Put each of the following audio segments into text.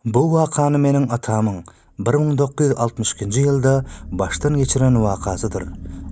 Bu wakany meniň atamyň bir müň dokuz ýüz altmyş ikinji ýylda başdan geçiren wakasydyr.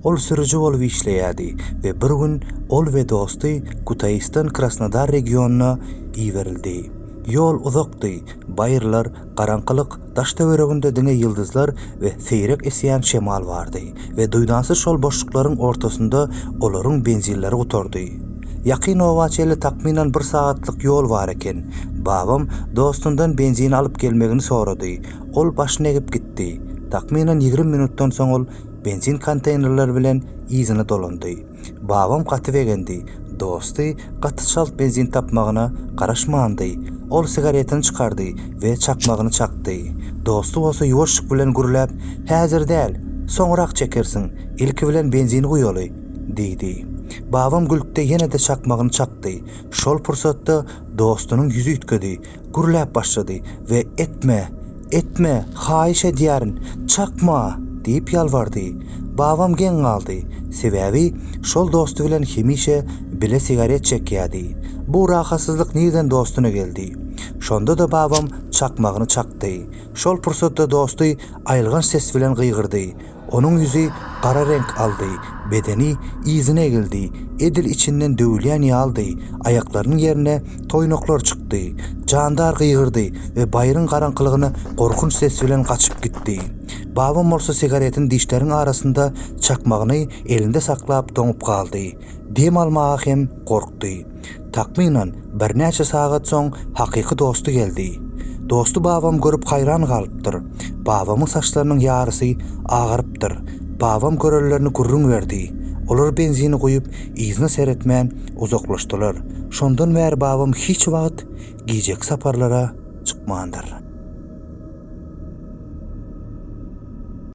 Ol sürüji bolup işleýärdi we bir gün ol we dosty Kutaýysdan Krasnodar regionyna iberildi. Ýol uzakdy, baýyrlar, garaňkylyk, daş-töwereginde diňe ýyldyzlar we seýrek esýän şemal bardy we duýdansyz şol boşluklaryň ortasynda olaryň benzinleri gutardy. Ýakyn oba çenli takmynan bir sagatlyk ýol bar eken. Babam dostundan benzin alyp gelmegini sorady. Ol başyny egip gitdi. Takmynan ýigrimi minutdan soň ol benzin konteýnerleri bilen yzyna dolandy. Babam gaty begendi. Dosty gaty çalt benzin tapmagyna garaşmandy. Ol sigaretini çykardy we çakmagyny çakdy. Dosty bolsa ýuwaşlyk bilen gürläp, Häzir däl, soňrak çekersiň, ilki bilen benzini guýaly! Diýdi. Babam gülüpdi ýene-de çakmagyny çakdy. Şol pursatda dostunyň ýüzi üýtgedi. Gürläp başlady we Etme! Etme! Haýyş edýärin! Çakma! diýip ýalbardy. Babam geň galdy. Sebäbi şol dosty bilen hemişe bile sigaret çekýärdi. Bu rahatsyzlyk nirden dostuna geldi? Şonda-da babam çakmagyny çakdy. Şol pursatda dosty aýylganç ses bilen gygyrdy. Onuň ýüzi gara reňk aldy, bedeni yzyna egildi, edil içinden döwülýän ýalydy, aýaklarynyň ýerine toýnaklar çykdy. Jandar gygyrdy we baýryň garaňkylygyna gorkunç ses bilen gaçyp gitdi. Babam bolsa sigaretini dişleriň arasynda çakmagyny elinde saklap doňup galdy. Dem almaga hem gorkdy. Takmynan birnäçe sagat soň hakyky dosty geldi. Dosty babam görüp haýran galypdyr. Babamyň saçlarynyň ýarysy agarypdyr. Babam görenlerini gürrüň berdi. Olar benzini guýup, yzyna seretmän uzaklaşdylar. Şondan bäri babam hiç wagt gijeki saparlara çykmandyr.